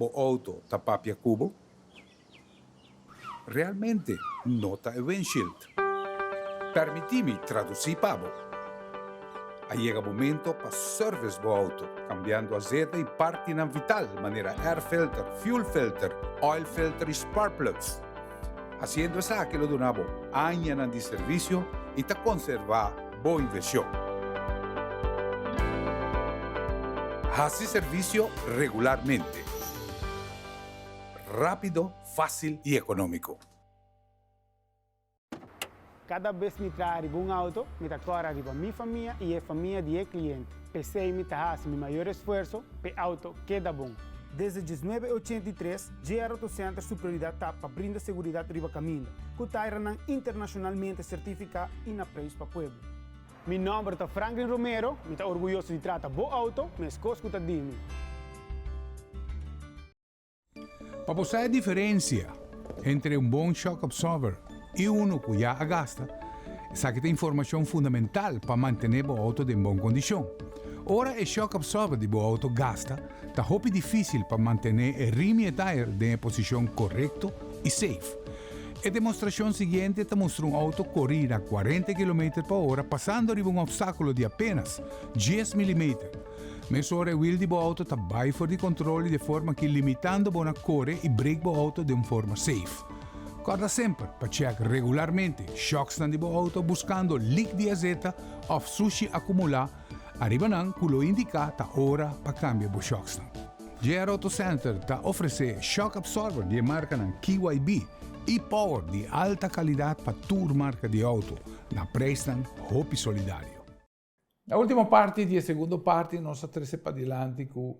Bo auto ta papia ku bo? Realmente no ta e windshield. Permití mi tradusí pa bo. A yega momento pa service bo auto, kambiando asete i partinan vital manera air filter, fuel filter, oil filter i spark plugs. Hasiendo esaki lo duna bo añanan di servisio i ta konservá bo invershon. Hasi servisio regularmente. Rápido, fásil i ekonómiko. Kada bes mi traha riba un auto, mi ta kòrda riba mi famia i e famia di e kliente. P'esei mi ta hasi mi mayor esfuerso p'e auto keda bon. Desde diesnuebe e ochenta i tres, JR Auto Center su prioridat ta pa brinda seguridat riba kaminda, ku tairanan internashonalmente sertifiká i na preis pa pueblo. Mi nòmber ta Franklin Romero, mi ta orguyoso di trata bo auto, meskos ku ta di mi. Pa bo sa e diferensia entre un bon shock absorber i unu ku ya a gasta, esaki ta informashon fundamental pa mantené bo outo den bon kondishon. Ora e shock absorber di bo outo gasta, ta hopi difísil pa mantené e rim i e tire den e posishon korekto i seif. E demostrashon siguiente ta mustra un outo kori na kuarenta kilometer pa ora pasando riba un opstákulo di apénas dies milimeter, Mesora e wiel di bo auto ta bai for di control y de forma ki limitando bo na core y brake bo auto den forma safe. Corda semper pa check regularmente shocksnan di bo auto buscando leak di azeta of sushi acumula ariba nan cu lo indica ta ora pa cambia bo shocksnan. JR Auto Center ta ofrece shock absorber di e marcanan KYB y power di alta calidad pa tur marca di auto na prijsnan hopi solidario. Na ultimo parti di e segundo parti nos a trese padilanti cu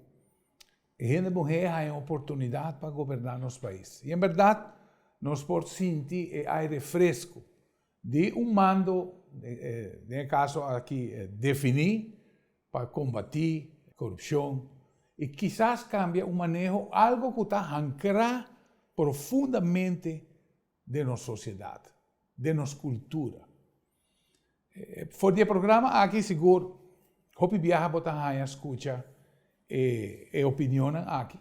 e hende muhé a haña un oportunidad pa goberná nos pais. I en berdad nos por sinti e aire fresco di un mando, den e caso aki definí, pa combatí corupcion i kisas cambia un maneho algo cu ta hancrá profundamente den nos sociedad, den nos cultura. For di e programa aki sigur hopi biaha bo ta haña skucha e e opinionnan aki,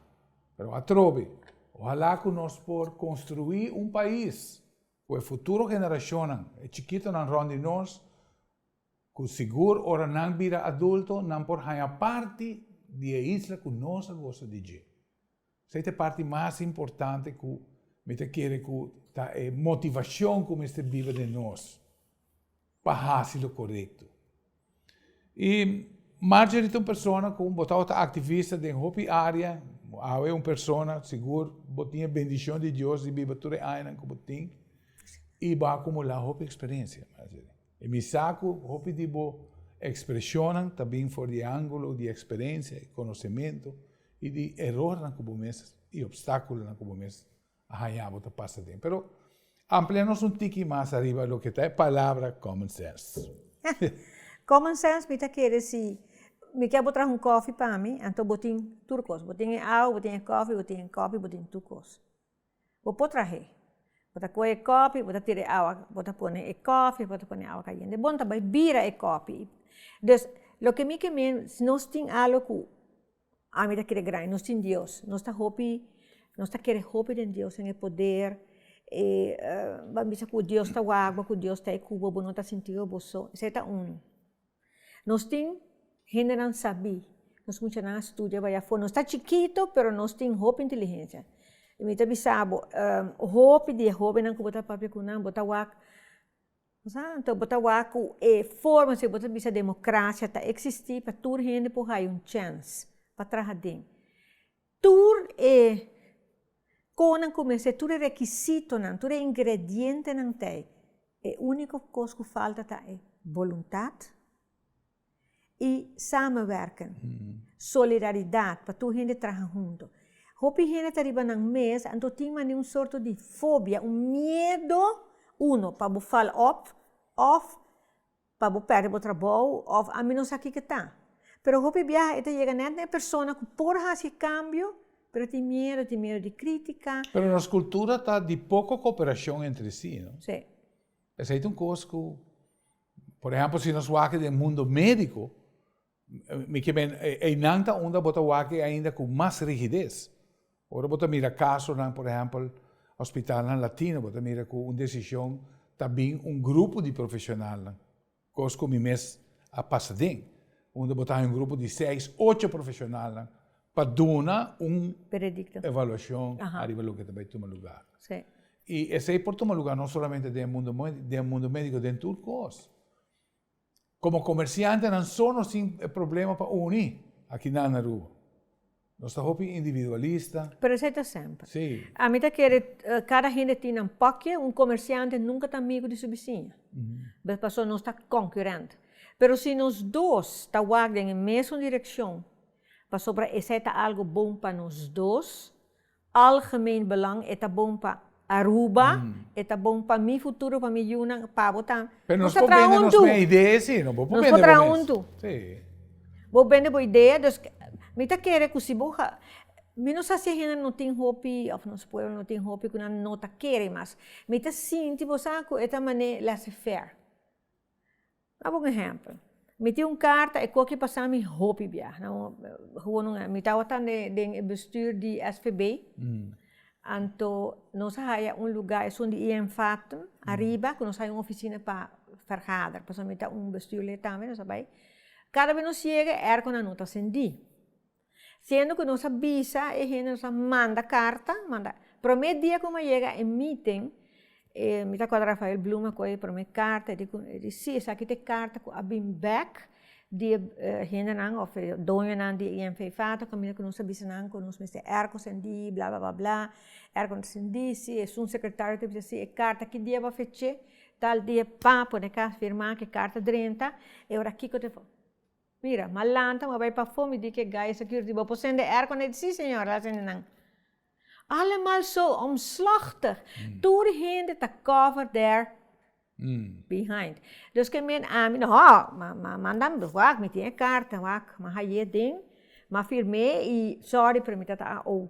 pero atrobe ohala ku nos por konstruí un pais ku e futuro generashonnan, e chikitonan rònt di nos, ku sigur ora nan bira adulto nan por haña parti di e isla ku nos a gosa di dje. Esei ta e parti mas importante ku mi ta kere ku ta e motivashon ku mester biba den nos pa hasi lo korekto. I Marjorie ta un persona ku bo tabata ta aktivista den hopi área, bo awe un persona, sigur bo tin e bendishon di Dios di biba tur e añanan ku bo tin i bo a akumulá hopi eksperensia, Marjorie. I mi sa ku hopi di bo ekspreshonnan ta bin for di e ángulo di eksperensia i konosementu. I di erornan ku bo mes i opstákulonan ku bo mes a hañá bo ta pasa den. Pero ampliá nos un tiki mas ariba loke ta e palabra common sense. Common sense mi ta kere si mi kè bo traha un kòfi pa mi, anto bo tin tur kos. Bo tin e awa, bo tin e kòfi, bo tin e kòpi, bo tin tur kos. bo por trah'é, bo ta kohe e kòpi, bo ta tira e awa, bo ta pone e kòfi, bo ta pone awa kayende, bon ta bai bira e kòfi, dus loke mi ke men si nos tin algu ku ami ta kere grandi, nos tin dios, nos ta hopi, nos ta kere hopi den dios en e poder, ban bisa ku dios ta wak bo, ku dios ta e ku bo, bo no ta sinti bo bo so, esei ta unu. Nos tin hendenan sabí, nos muchanan a studia bai afó, nos ta chikito pero nos tin hopi inteligensia. I mi ta bisa bo, hopi di e hóbennan ku bo ta papia ku nan bo ta wak anto bo ta wak ku e forma si bo ta bisa demokrasia ta eksistí pa tur hende por haña un chèns pa traha aden. Tur e konan ku mester, tur e rekisitonan, tur e ingredientenan t'ei. E úniko kos ku falta ta e boluntat i samenwerking, solidaridat pa tur hende traha huntu. Hopi hende ta riba nan mes, anto tin mane un sorto di fobia, un miedo, uno pa bo fal òf, òf. pa bo pèrdè bo trabou òf ami no sa kiko ta. Pero hopi biaha e ta yega nèt na e persona ku por hasi kambio, pero e tin miedu, tin miedu di krítika. Pero nos kultura ta di poko koperashon entre si, no? Sí. Esei ta un kos ku, por ehèmpel si nos wak den mundo médiko. Mi ke men, einan ta unda bo ta wak ainda ku mas rigides. Ora bo ta mira kasonan, por ehèmpel, hospitalnan latino, bo ta mira ku un desishon ta bin un grupo di profeshonalnan, kos ku mi mes a pasa den, unda bo ta haña un grupo di seis, ocho profeshonalnan pa duna un evaluashon ariba loke ta bai tuma lugá. I esei por tuma lugá no solamente den e mundu médiko, den tur kos. Komo komersiantenan so nos tin e problema pa uni aki nan na Aruba. Nos ta hopi individualista. Pero esei ta semper. Sí. Ami ta kere kada hende tin nan pòkje, un komersiante nunka ta amigu di su bisiña. Be paso nos ta konkurent. Pero si nos dos ta wak den e mesun direkshon, pasobra esei ta algu bon pa nos dos, Algemeen belang e ta bon pa Aruba, e ta bon pa mi futuro, pa mi yunan, pa bo ta. Pero nos por bende nos me idee si no bo por bende bo mes. Si. Bo bende bo idee dus mi ta kere ku si bo ha mi no sa si e hende no tin hopi of nos pueblo no tin hopi ku nan no ta kere mas mi ta sinti bo sa ku e ta mane laissez faire. Dá bo un ehèmpel, mi tin un karta e koki pasá mi hopi biaha, mi tabata den e bestür di SVB, anto nos a haya un lugá esun di INVATM ariba ku nos haya un ofisina pa ferhader, pasobra mi ta un bestürlid tambe, nos a bai, kada bes nos yega e èrkonan no ta sendí. Siendo cu nos a bisa e hende, nos a manda carta, manda. Prome dia cu mi a yega e meeting, mi ta acorda Rafael Bloem a coge e prome carta, e di si, esaki ta e carta cu a bini bek di e hendenan of e doñonan di e infefa, ta caminda cu nos a bisa nan cu nos mester airco cendi, bla bla bla bla, airco no ta cendi, si esun secretario ta bisa si e carta ki dia bo a feche, tal dia, pa, pone ca, firma cu e carta drenta, e ora kico ta. Mira, m'a lanta, m'a bai pafó, mi di k'e gais aki riba por sende air kondé. Sí, señor, a sende nan. Allemal zo omslòchtig, tur hende ta kòver dèr behind. Dus k'e meen ami, nò, m'a manda, wak, mi tin e karta, wak, m'a hai'é den, m'a firm'é i sòri, pero mi ta ta AO.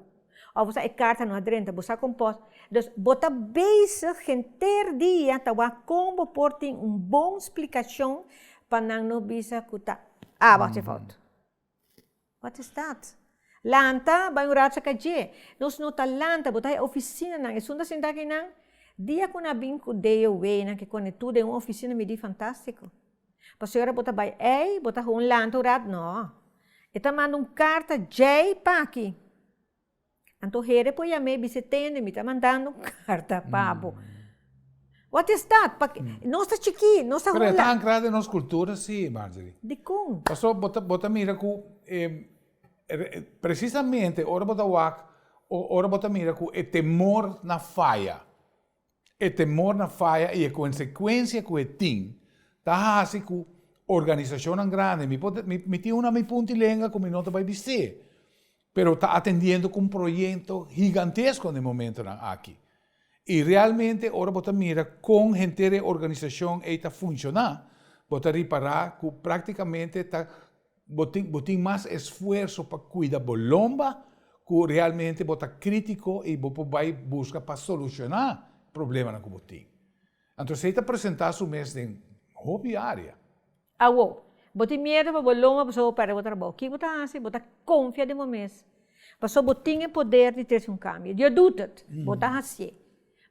Of bo sa e karta no a drenta, bo sa kon por. Dus, bo ta bezig henter dia ta wak kon bo por tin un bon splikashon pa nan no bisa ku ta aba hasi fout. Wat is dat? Lanta, bai un rato sa ka dje. Nos no ta lanta, bo ta e ofisinanan, esun ta sinta aki nan. Dia ku nan a bin ku DOW, nan ke kone tur den un ofisina midí fantástiko. Pasobra ora bo ta bai ei, bo ta haga un lanta orat? No. E ta manda un karta djei paki. Anto heren por yam'é i bisa, Tene, mi ta mandando un karta pa bo. Wat is dat? Pakié nos ta chikí, nos ta hunlanta. Pero e ta ankra den nos kultura, sí, Marjorie. Dikon? Paso bo ta, bo ta mira ku e presisamente ora bo ta wak o ora bo ta mira ku e temor na faya. E temor na faya i e konsekuensia ku e tin ta hasi ku organisashonnan grandi, mi por mi tin un ami punti lenga ku mi no ta bai bist'é, pero ta atendiendo ku un proyekto higantesko na e momentunan aki. I realmente ora bo ta mira kon henter e organisashon ei ta funshoná, bo ta ripará ku práktikamente ta Bo tin bo tin mas esfuerso pa cuida bo lomba cu realmente bo ta critico y bo por bay busca pa soluciona problemanan cu bo tin. Anto esey ta presenta su mes den hopi area. Awo, bo tin miedo pa bo lomba pasobra bo perde bo trabou. Kico bo ta haci? Bo ta confia den bo mes pasobra bo tin e poder di trece un cambio. Dios doet, bo ta hacié.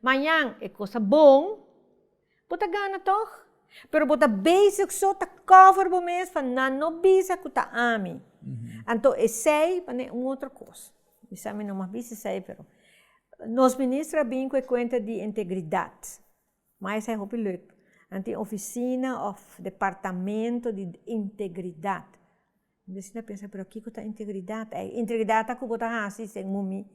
Mañan e cos ta bon. Bo ta gana tòg? Pero bo ta bezig so ta kòver bo mes pa nan no bisa ku ta ami. Anto esei pa ne un otro kos. Mi sa mi no mas bisa esei, pero nos minister a bin ku e kuenta di integridat. Mai esei hopi lek. Nan tin ofisina òf departamento di integridat. Bies i ta pensa, pero kiko ta integridad? Ei, integridad ta ku bo ta hasi sen mumi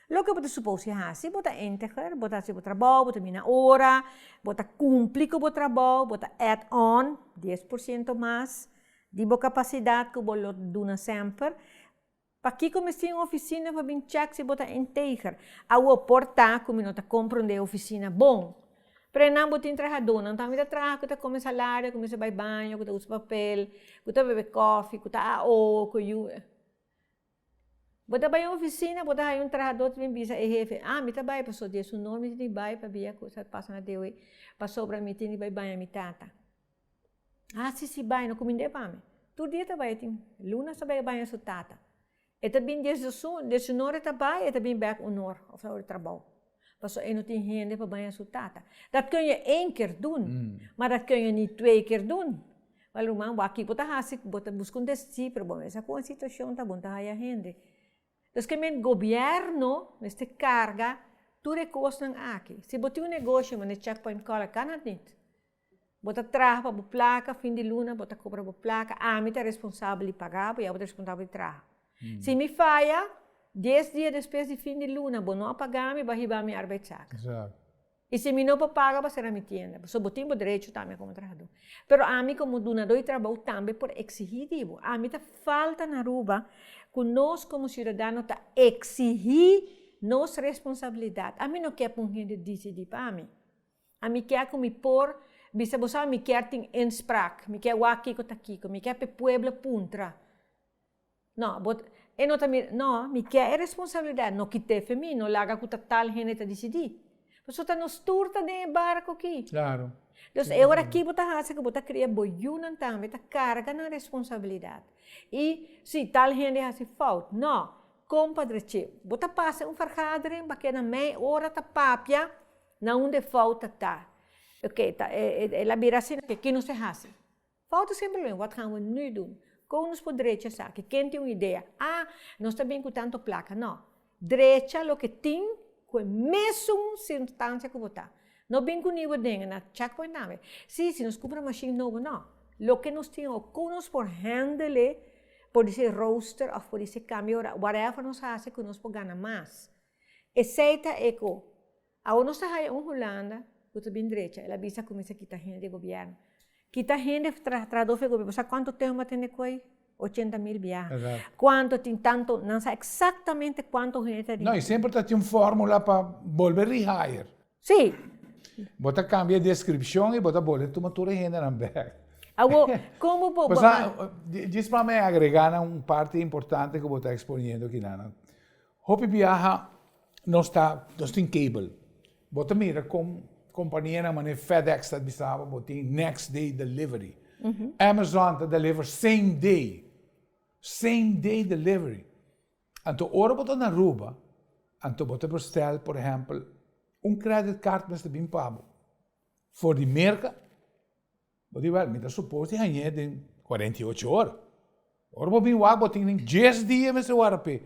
loke bo ta supos di hasi, bo ta integer, bo ta hasi bo trabou, bo ta bini na ora, bo ta kumpli ku bo trabou, bo ta add on dies por siento mas di bo kapasidad ku bo lo duna semper. Pakiko mester tin un ofisina pa bin chèk si bo ta integer? Awor por ta ku mi no ta komprende ofisina bon. Prenan bo tin trahadonan tambe ta traha ku ta kome salario ku mester bai baño ku ta usa papel ku ta bebe kofi ku ta aho ku yu bo ta bai ofisina bo ta haya un trahador ta bin bisa e hefe ah mi ta bai pasobra dia su nor mi tin di bai pabia kusa ta pasa na dia wei pasobra mi tin di bai baña mi tata ah si si bai no kuminda e pami tur dia ta bai tin lunas ta bai baña su tata. E ta bin desde su, desde su nor e ta bai, e ta bin bek un nor of ta ora trabou. Paso e no tin hende pa baña su tata. Dat keuña één ker dun, ma dat keuña ni twee ker dun. Wel ruman, bo aki bo ta hasi, bo ta buska un desafí, pero bo mester kon e situashon ta, bon ta haya hende. Pues ke men gobièrnu mester karga tur e kosnan aki. Si bo tin un negoshi, mane chèk pòint kòrek, kan òf nit? Bo ta traha pa bo plaka, fin di luna bo ta kobra bo plaka, ami ta responsabel di paga bo i abo ta responsabel di traha. Si mi faya, dies dia despues di fin di luna bo no a pagami, bo a hiba mi arbeidszaken. Exacto. I si mi no por paga, bo a sera mi tienda. So bo tin bo derecho tambe komo trahadó. Pero ami komo dunadó di trabou tambe por eksigí di bo. Ami ta falta na Aruba ku nos komo siudadano ta eksigí nos responsabilidat. Ami no ke pa un hende disidí pa mi. Ami ke ku mi por bisa bo sa mi kier tin inspraak mi kier wak kiko ta kiko mi kier p'e pueblo puntra no bo e no ta mi no mi kier e responsabilidad no kite fe mi no laga ku ta tal hende ta disidi bo so ta no stur ta den e barco ki dus e ora ki bo ta hasi ku bo ta kria bo yu nan tambe ta karga nan responsabilidad i si tal hende hasi fout no kompadre chi bo ta pasa un fergadering bakera mei ora ta papia. Na un de fouten ta, oké, ta e e el a bira asina, ke ke nos te hasi? Fouten semper lo wen, wat gaan we nu doen? Kon nos por drecha esaki? Ken tin un idea? A, nos ta bini ku tantu plaka. No, drecha loke tin ku e mesun sirkunstansia ku bo ta. No bini ku niu ideanan, na chak poin tambe. Sí, si nos kumpra mashin nobo, no. Loke nos tin awor, kon nos por hèndele, por di se rooster òf por di se kambio ora, whatever nos hasi ku nos por gana mas. Esei ta e ku awo nos ta haya un Hulanda ku ta bin drecha, el a bisa ku mi sa kita hende di e gobièrnu. Kita hende trahadó for e gobièrnu. Bo sa kuantu tempu mi a tene ku ei? Ochenta mil biaha. Kuantu tin tantu, nan sa eksaktamente kuantu hende ta dintru. No, i semper ta tin un fórmula pa bolbe rihire. Sí. Bo ta kambia e deskripshon i bo ta bolbe tuma tur e hendenan bèk. Awo, komo bo. Pasá, djis pa mi agregá na un parti importante ku bo ta eksponiendo kilanan. Hopi biaha nos ta nos tin cable bo ta mira con companianan manera fedex ta bisa bo bo tin next day delivery amazon ta deliver same day same day delivery anto ora bo ta na aruba anto bo ta bestel por ehempel un credit card mester bin pa bo for di merca Bo di wak, mi ta supos di hañ'é den cuarenta y ocho or. Ora bo bin wak, bo tin den dies dia mester wara p'e.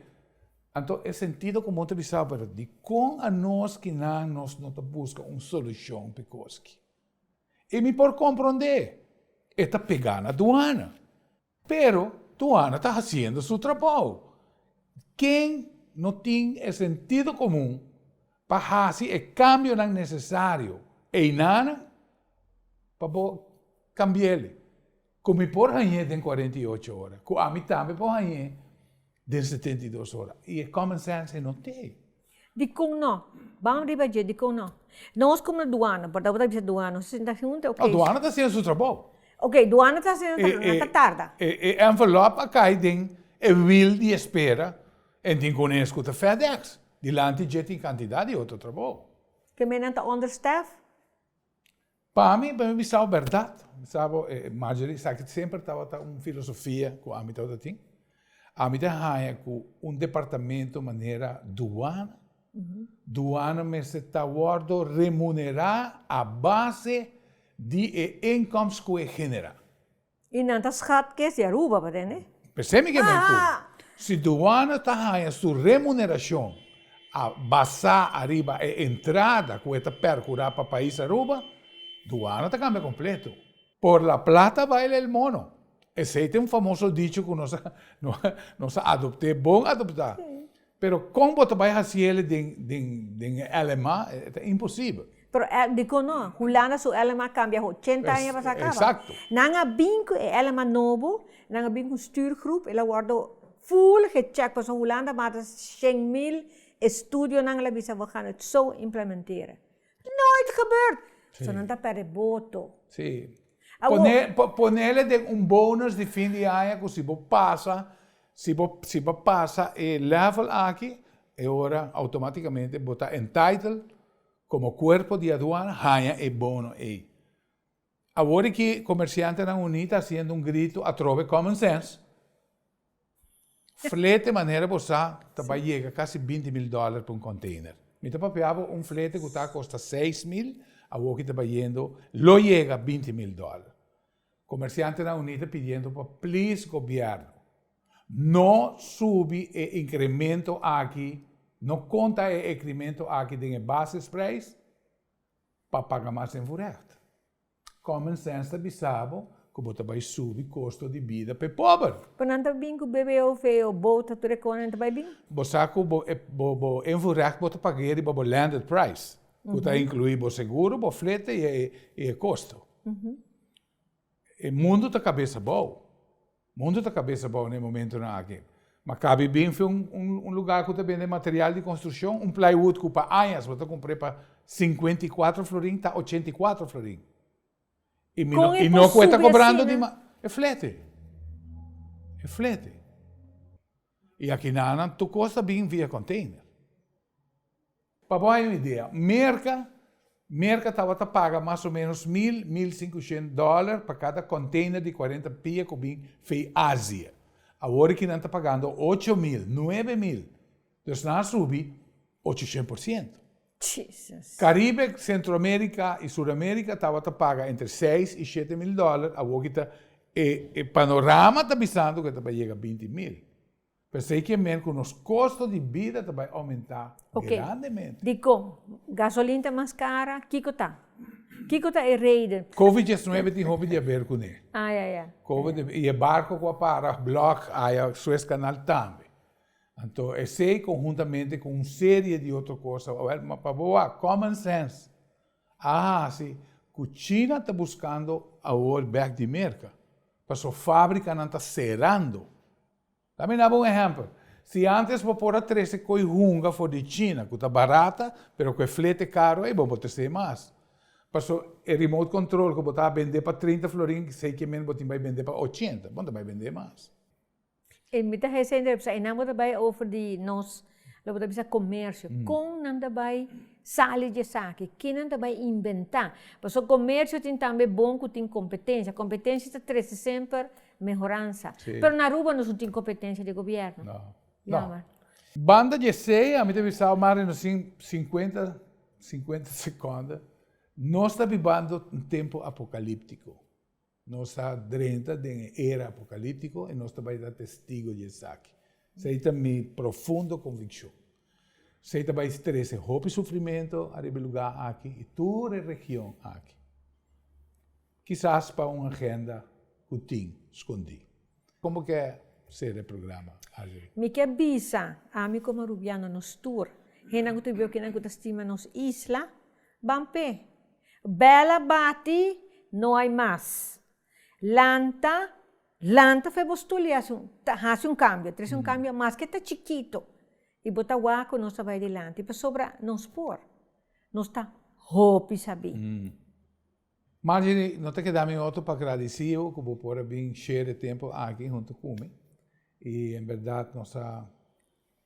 Anto e sentido ku bo ta bisa por dikon anos ki nan nos no ta buska un solushon p'e koski. I mi por komprond'é, e ta pegá na duana. Pero Tuana ta hasiendo su trabou. Ken no tin e sentido komun pa hasi e kambionan nesesario einanan pa bo kambiae? Ku mi por hañ'é den kuarenta i ocho ora, ku ami tambe por hañ'é den setenta i dos ora. I e common sense ei no t'e. Dikon no? Bam riba dje, dikon no? Nos komo duana, bòt abo ta bisa duana nos ta sinta huntu e okey. Duana ta hasiendo su trabou. Okey, duana ta hasiendo su trabou, nan ta tarda. E envelop a kai den e wil di espera, en tin ku un e skuta FedEx. Dilanti dje tin kantidat di otro trabou. Ke men nan ta understaff? Pa mi, pa mi bisa bo berdad, bisa bo e Marjorie, esaki semper tabata un filosofia cu ami tabata tin, ami ta haya cu un departamento manera duana, duana mester ta wordo remunera a base di e inkomst cu e genera. Y nan ta schat kes di Aruba, pa tende? P'esei mi ke bay cu, si duana ta haña su remuneracion a basá ariba e entrada cu e ta percurá pa pais Aruba, duana ta cambia completo. Por la plata baila el mono. Esei ta e un famoso dicho cu nos a, nos a adopté, bon adoptá. Pero kon bo ta bai hasi el den e LMA? E ta imposibel. Pero el, dikon no? Hulanda su LMA kambia ho ochenta aña pas aka, ba? Nan a bin ku e LMA nobo, nan a bin ku un stuurgroep, el a wòrdu full gechèk, pasobra Hulanda mas di shen mil estudionan el a bisa bo gaan het zo implementeren. Nooit gebeurd! So nan ta perde boto. Sí. Pone, po, ponele den un bonus di fin di aña cu si bo pasa, si bo, si bo pasa e level aki, e ora automaticamente bo ta entitled como cuerpo di aduana haña e bono ey. Awor di ki comerciantenan uní ta haciendo un grito atrobe common sense, flete manera bo sa ta bay yega casi binti mil dollar pa un container. Mi ta papia bo un flete cu ta a costa seis mil, awor ki ta bay yendo lo yega binti mil dollar. Comerciantenan uní ta pidiendo pa please gobierno no subi e incremento aki, no conta e incremento aki den e basisprijs pa paga mas den voorrecht. Common sense ta bisa bo cu bo ta bay subi costo di bida p'e pober. Cu nan ta bin cu bebe of e o boat tur e conan ta bay bin. Bo sa cu bo bo en voorrecht bo ta pag'e riba bo landed price, cu ta inclui bo seguro, bo flete y e costo. E mundo ta cabeza bao. Mundo ta kabesa bou na e momentunan aki. Ma kabi binfe un lugá ku ta bende material di konstrukshon, un playwood ku pa añas bo ta kumpr'é pa sinkuenta i kuatro florin ta ochenta i kuatro florin. I mi no, i no ku e ta kobrando di mas. E flete. E flete. I aki nan nan tur kos ta bin via konteiner. Pa bo haya un idea, Merka, Merka tabata paga mas o menos mil, mil sinkushent dòler pa kada kònteiner di kwarenta pia ku bin fei Asia. Awor aki nan ta pagando ocho mil, nuebe mil. Dus nan a subi ochushent por siento. Jesus. Karibe, Sentroamerika i Suramerika tabata paga entre seis i shete mil dòler, awor aki ta, e panorama ta bisando ku e ta pa yega binti mil. P'esei ke men ku nos kosto di bida ta bai oumentá grandemente. Dikon? Gasolin ta mas kara? Kiko ta? Kiko ta e reden? Covid diesnuebe tin hopi di a ber kuné. Covid i e barko ku a para block aya Suez Kanal tambe. Anto esei konhuntamente ku un serie di otro kosa, wèl, ma pa bo wak, common sense a hasi ku China ta buskando awor bèk di Merka, paso fábrikanan ta serando. La mi na bo un ehèmpel. Si ántes bo por a trese koi hunga for di China ku ta barata pero ku e flete karu ei bo por tres'é mas. Paso e remote control ku bo ta bend'é pa trinta florin sei ke men bo tin bai bend'é pa ochenta, bo no ta bai bend'é mas. E mi ta hesei, pero esei nan bo ta bai over di nos. Lo bo ta bisa comercio, con nan ta bay sali dje esaki, ken nan ta bay inventa, pasobra comercio tin tambe bon cu tin competencia, competencia ta trece semper mehoransa, pero na aruba nos no tin competencia di gobierno, jammer. Banda dje esey, ami ta bisa awe mas reno sin cincuenta, cincuenta seconda, nos ta bibando un tempo apocaliptico, Nos ta drenta den e era apocalíptico i nos ta bai ta testigo di esaki. Esei ta mi profundo conviccion. Esei ta bai trece hopi sufrimento ariba e lugá aki i tur e region aki. Kisas pa un agenda cu tin scondí. Como ke ser e programa Argery? Mi ke bisa, ami como Rubiano nos tur, hennan ku ta biba kinan ku ta stima nos isla, ban p'e. Bel a bati, no hay mas. Lanta, lanta fe bo stul i hasi un, ta hasi un kambio, trese un kambio maske ta chikito, i bo ta wak ku nos ta bai dilanti, pasobra nos por, nos ta hopi sabí. Marjorie, no ta keda mi otro pa gradiciu cu bo por a bin share e tempo aki hunto cu mi. Y en berdad nos a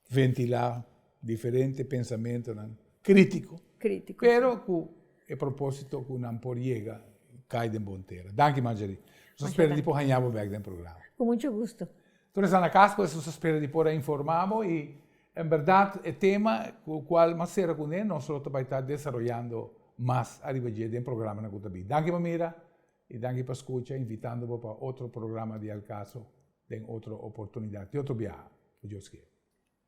ventila diferente pensamentonan critico, pero cu e proposito cu nan por yega cay den bo entera. Danki Marjorie. Nos a spera di por haña bo bek den programa. Cu mucho gusto. Tur esnan na cas pues nos ta spera di por a informa bo y en berdad e tema cu cual mas cera cune nos lo ta bay ta desaroyando mas ariba dje den programanan cu ta bin. Danki pa mira y danki pa scucha invitando bo pa otro programa di Al Caso den otro oportunidad y otro biaha. Cu Dios kier.